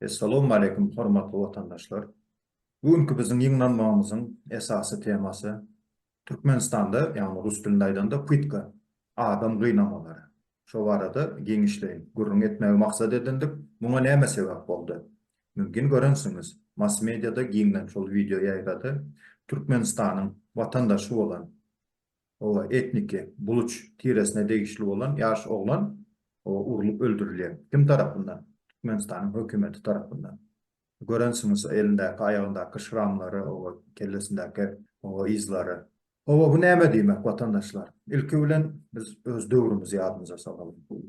Essalawmaleýkum hormatly watandaşlar! Bu günki biziň ýygnanmagymyzyň esasy temasy Türkmenistanda, ýagny rus dilinde aýdanda, pytka, adam gynamalary, Şo barada giňişleýin gürrüň etmegi maksat edindik, muňa näme sebäp boldy? Mümkin görensiňiz, mass-mediada giňden şol wideo ýaýrady, Türkmenistanyň watandaşy bolan, oba, etniki buluç tiresine degişli bolan ýaş oglan, oba, urlup öldürilýär. Kim tarapyndan? Türkmenistanyň hökümeti tarapyndan. Görensiňiz şo elindäki, aýagyndaky şramlary, oba, kellesindäki, oba, yzlary. Oba, bu näme diýmek, watandaşlar? Ilki bilen biz öz döwrümizi ýadymyza salalyň.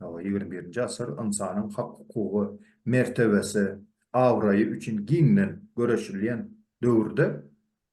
Oba, ýigrimi birinji asyr ynsanyň hak-hukugy, mertebesi, abraýy üçin giňden göreşilýän döwürde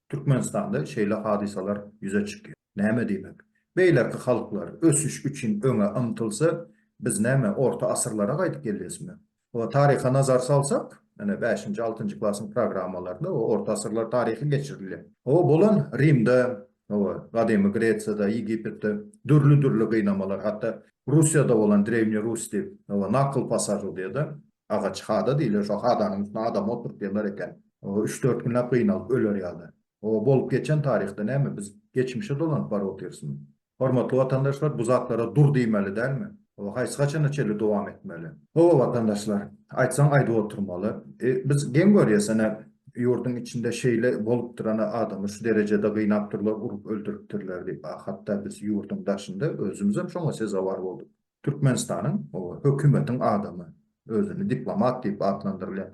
Türkmenistanda şeýle hadysalar ýüze çykýar. Näme diýmek? Beýleki halklar ösüş üçin öňe ymtylsa, biz näme, orta asyrlara gaýdyp gelýäsmi? Hawa, taryha nazar salsak, ine, bäşinji, altynjy klasyň programmalarynda bu orta asyrlar taryhy geçirilýär. Hawa, bolan Rimde, hawa, gadymy Gresiýada, Ýegipetde dürli-dürli gynamalar, hatda Russiýada bolan Drewniý Rus diýip, hawa, nakyl pasažyrdýa-da, agaç hada diýilýär, şo hadanyň üstüne adamy oturtýarlar eken, hawa, üç-dört günläp gynalyp öler ýaly. O, bolup geçen taryhda näme, biz geçmişe dolanyp baryp otyrsmy? Hormatly watandaşlar, bu zatlara dur diýmeli dälmi? O, haýsy haçana çenli dowam etmeli? Hawa, watandaşlar, aýtsaň aýdyp oturmaly. E, biz geň görýäsene, ýurduň içinde şeýle bolup durana adamy şu derejede gynapdyrlar, urup öldüripdirler diýip, a hatda biz ýurduň daşynda özümizem şoňa sezewar bolduk. Türkmenistanyň hökümetiň adamy, özüni diplomat diýip atlandyrylýan,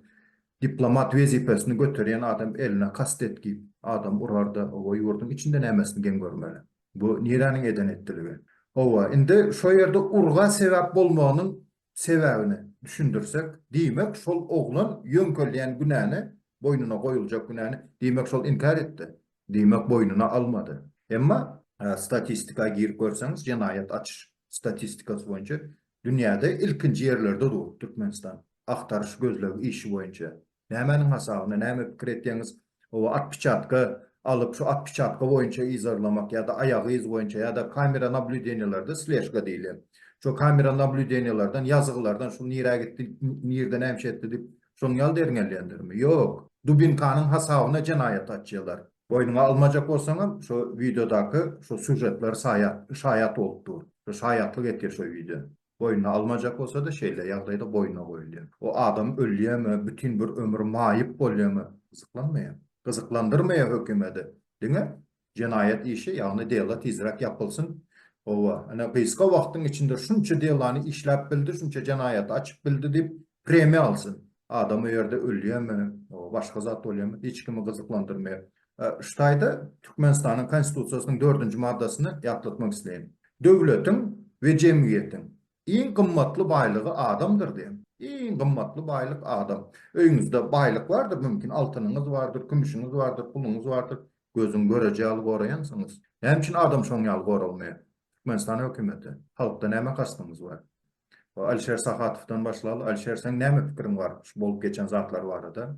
diplomat wezipesini göterýän adam eline kast etgip, adam urarda, oba ýurduň içinde nämesini geň görmeli. Bu niräniň eden etdiligi? Oba, indi şo ýerde urga sebäp bolmagynyň sebäbini düşündirsek, diýmek şol oglan ýöňkelýän günäni, boýnuna goýuljak günäni, diýmek şol inkär etdi. diýmek boýnuna almady. Emma statistika girip görseňiz jenaýat açyş statistikasy boýunça dünýäde ilkinji ýerlerde dur Türkmenistan agtaryş gözleg işi boýunça. Nämäniň hasabyna näme pikir etýäňiz ow atpiçatka alyp şu atpiçatka boýunça yzarlamak ýada aýagy yz boýunça ýada kamera nablýudeniýalerde sležka diýilýän şo kamera nablýudeniýalardan ýazgylardan şu nirä gitdi nirde näme şetdi diýip Şoň ýaly derňelýändirmi? Ýok. Dubinkanyň hasabyna jenaýat açýalar. Boýnuňa almajak bolsaňam şo wideodaky şo sýužetler saýat şaýat bolup dur. Şo şaýatlyk etýär şo wideo. Boýnuna almajak bolsada şeýle ýagdaýda boýnuna goýulýar. O adam ölýämi, bütin bir ömür maýyp bolýamy gyzyklanmaýa. Gyzyklandyrmaýa hökümedi. Diňe Jenaýat işi, ýagny dela tizräk ýapylsyn. Howwa, ine gysga wagtyň içinde şunça delany işläp bildi, şunça jenaýaty açyp bildi diýip, premiýa alsyn. Adam o ýerde ölýärmi, başga zat bolýarmy, hiç kimi gyzyklandyrmaýar. Şu taýda Türkmenistanyň Konstitusiýasynyň dördünji maddasyny ýatlatmak isleýin. Döwletiň we jemgyýetiň Iň gymmatly baýlygy adamdyr diýen. Iň gymmatly baýlyk adam. Öýüňizde baýlyk bardyr, mümkin, altynyňyz bardyr, kümüşiňiz bardyr, puluňyz bardyr. Gözüň göreji ýaly goraýansyňyz. Näme üçin adam şoň ýaly goralmaýar? Türkmenistan hökümeti. Halkda näme kastyňyz bar? Alişer Sahatowdan başlaly. Alişer, seň näme pikiriň bar şu bolup geçen zatlar barada?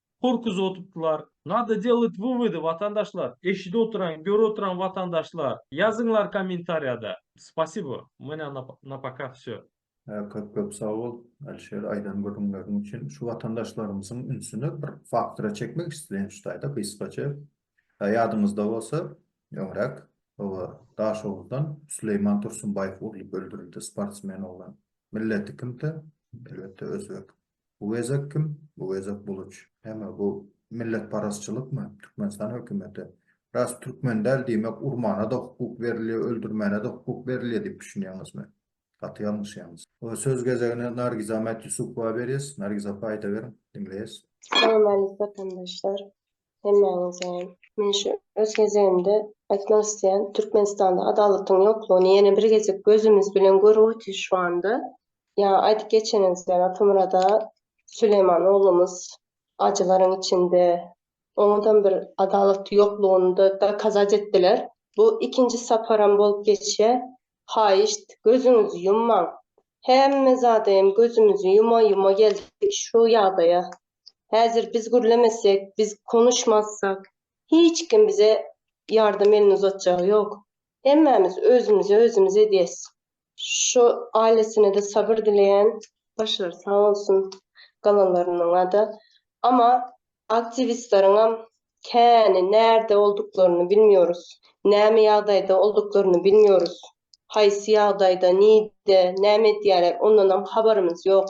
Korkuzy oturtdylar. Nada delit wywody watandaşlar eşidi oturan göri oturan watandaşlar ýazyňlar komentarýada spasibo u menä na poka vsё. Köp köp sag bol Alişer aýdan gürrüňleriň üçin. Şu watandaşlarymyzyň ünsüni bir faktora çekmek isleýän şu taýda gysgaça. Ýadyňyzda bolsa öňräk oba Daşoguzdan Süleýman Tursunbaýew urlup öldürildi sportsmen oglan. Milleti kimdi? Elbetde özbek. Bu gezek kim? Bu gezek Buluç. Heme bu milletparazçylykmy? Türkmenistan hökümeti, Ras türkmen däl diýmek urmana-da hukuk berilýär, öldürmäne-de hukuk berilýär diýip düşünýäňizmi? Gaty ýalňyşýaňyz. Söz gezegini Nargizamat Ýusupowa berýäs. Nargiz apa aýdaweriň, diňleýäs. Salam aleýk watandaşlar. Hemmäňiz jan. Men şu öz gezegimde aýtmak isleýän Türkmenistanda adalatyň ýoklugyny ýene bir gezek gözümiz bilen görüp otyrys şu anda. Ýaňy aýdyp geçeniňiz ýaly Atamyrada Süleýman oglumyz ajylaryň içinde oňadam bir adalaty ýoklugyny da dokazat etdiler. Bu ikinji saparam bolup geçýä. Haýyşt gözüňizi ýummaň. Hemme zada hem gözümizi ýuma ýuma geldik şu ýagdaýa. Häzir biz gürlemesek, biz konuşmazsak, hiç kim bize ýardam elini uzatjagy ýok. Hemmämiz özümize özümiz edýäs. Şu ailesine-de sabyr dileýän. Başlary sag bolsun galanlarynyňa-da. Ama aktiwistleriňem käni närde olduklaryny bilmiyoruz. Näme ýagdaýda olduklaryny bilmiyoruz. Haýsy ýagdaýda, nide, näme edýärler ondanam habarymyz ýok.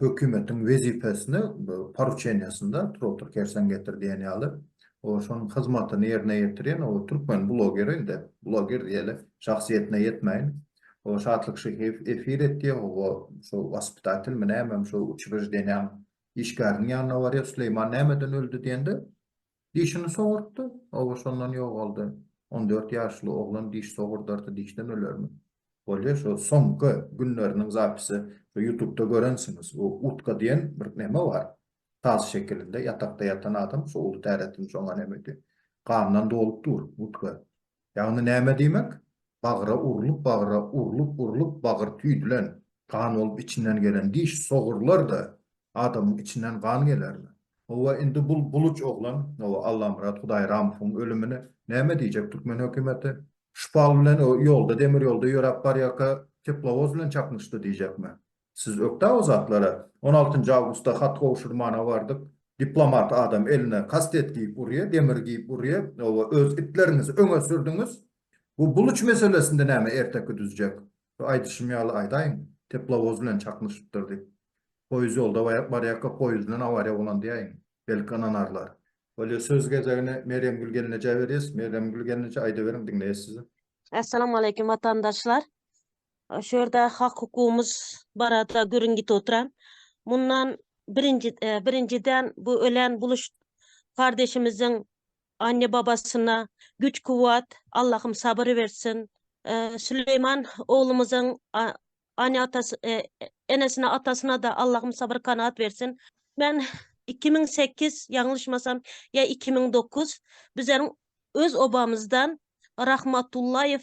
hökümetiň wezipesini poruçeniýesinde Turotur Kersen getir diýen ýaly, o şonuň hyzmatyny ýerine ýetirýän o türkmen blogeri indi, bloger diýeli, şahsyýetine ýetmäýin, o Şatlyk Şyhyýew efir etýär, o şu waspitatelmi nämemi şu uçrejdenýäň işgäriniň ýanyna barýar, Süleýman nämeden öldi diýende, Dişini sogurtdy, oba şondan ýogaldy. On dört ýaşly oglan diş sogurdarty dişden ölermi? Bolýa şo soňky günleriniň zapisi şo ýutubda görensiňiz bu utka diýen bir neme bar tas şekilinde ýatakda ýatan adam şo uly täretini şoňa nemedi gandan dolup dur utka Ýagny näme diýmek? Bagra urlup bagra urlup urlup bagyr tüýdülen, gan bolup içinden gelen diş sogurlar-da adamyň içinden gan gelermi? Howwa indi bul buluç oglan o Allamyrat Hudaýramowyň ölümine näme diýjek türkmen hökümeti? Şpal bilen o ýolda demir ýolda ýöräp barýarka teplowoz bilen çaknyşdy diýjekmi? Siz ökde o zatlara on altynjy awgustda hat gowşurmana bardyk, diplomat adam eline kastet giýip urýa, demir giýip urýa, oba öz itleriňizi öňe sürdüňiz. Bu buluç meselesinde näme erteki düzjek? Bu aýdyşym ýaly aýdaýyň, teplowoz bilen çaknyşypdyr diýip. Poýuz ýolda barýarka poýuzdan awariýa bolan diýäýiň, belki ynanarlar. Bolýa söz gezegini Merýemgül gelnejä berýäs. Merýemgül gelneje aýdyberiň diňleýäs sizi. Essalamu aleýkum watandaşlar. Şu ýerde hak-hukugymyz barada gürrüň gitip oturan. Mundan birinji, e, birinjiden bu ölen buluş kardeşimiziň anne-babasyna güç-kuwwat, Allahym sabyr bersin. E, Süleýman oglumyzyň a- ane-atasy, e, enesine, atasyna da Allahym sabyr kanaat bersin. Men 2008 ýalňyşmasam ýa 2009 bizleriň öz obamyzdan Rahmatullaýew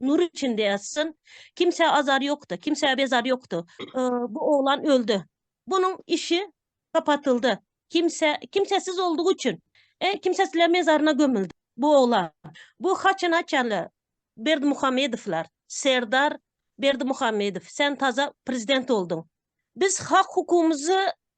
Nur içinde ýatsyn. Kimsä azar ýokdy, kimsä bezar ýokdy. Bu oglan öldi. Bunuň işi gapatyldy. Kimse, kimsesiz oldugy üçin. E, kimsesizler mezaryna gömüldi bu oglan. Bu haçan haçanly Berdimuhamedowlar, Serdar Berdimuhamedow, sen taza prezident olduň. Biz hak-hukumyzy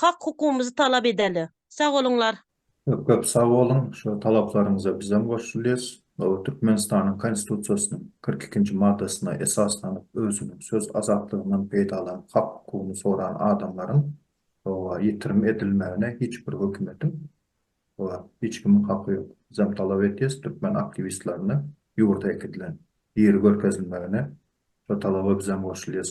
Hak hukumyzy talap edeli. Sag boluňlar. Köp köp sag boluň, şu talaplaryňyza bizem goşulýas. Gowy Türkmenistanyň Konstitusiýasynyň kyrk ikinji maddasyna esaslanyp özüniň söz azatlygyndan peýdalanyp hak hukugyny soran adamlaryň oba ýitirim edilmegine hiç bir hökümetiň oba hiç kimiň haky ýok. Bizem talap etýäs türkmen aktiwistlerine ýurda äkidilen ýeri görkezilmegine şu talaba bizem goşulýas.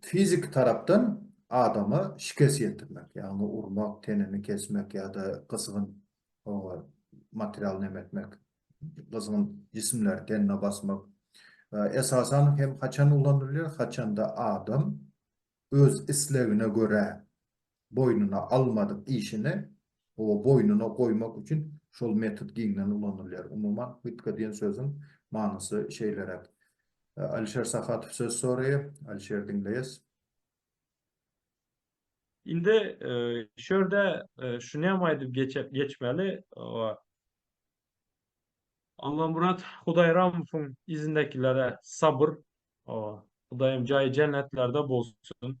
Fiziki tarapdan adama şikes ýetirmek, ýagny urmak, tenini kesmek ýa-da gyzgyn material neme etmek, gyzgyn jisimleri tenine basmak, esasan hem haçan ulanylýar, haçanda adam öz islegine görä boýnuna almadyk işini o boýnuna goýmak üçin şol metod giňden ulanylýar. Umuman, hytka diýen sözüň manysy şeýleräk. Alişer Sahatow söz soraýar. Alişer, diňleýäs. Indi şu ýerde şunyam aýdyp geçmeli, Allamyrat Hudaýramowyň yzyndakilara sabyr, Hudaýym jaýy jennetlerde bolsun,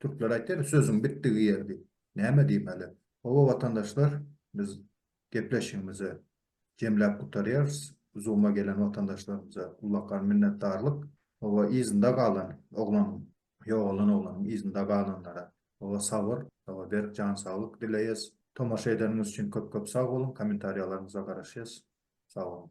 Türkler aýtýar, sözüň bitdigi ýer diýip. Näme diýmeli? Hawa, watandaşlar, biz gepleşigimizi jemläp gutarýarys. Zoom-a gelen watandaşlarymyza ullakan minnetdarlyk. Hawa, yzynda galan oglanyň, ýogalan oglanyň yzynda galanlara, hawa, sabyr, hawa, berk jan saglyk dileýäs. Tomaşa edeniňiz üçin köp-köp sag boluň. Kommentariýalaryňyza garaşýas. Sag boluň.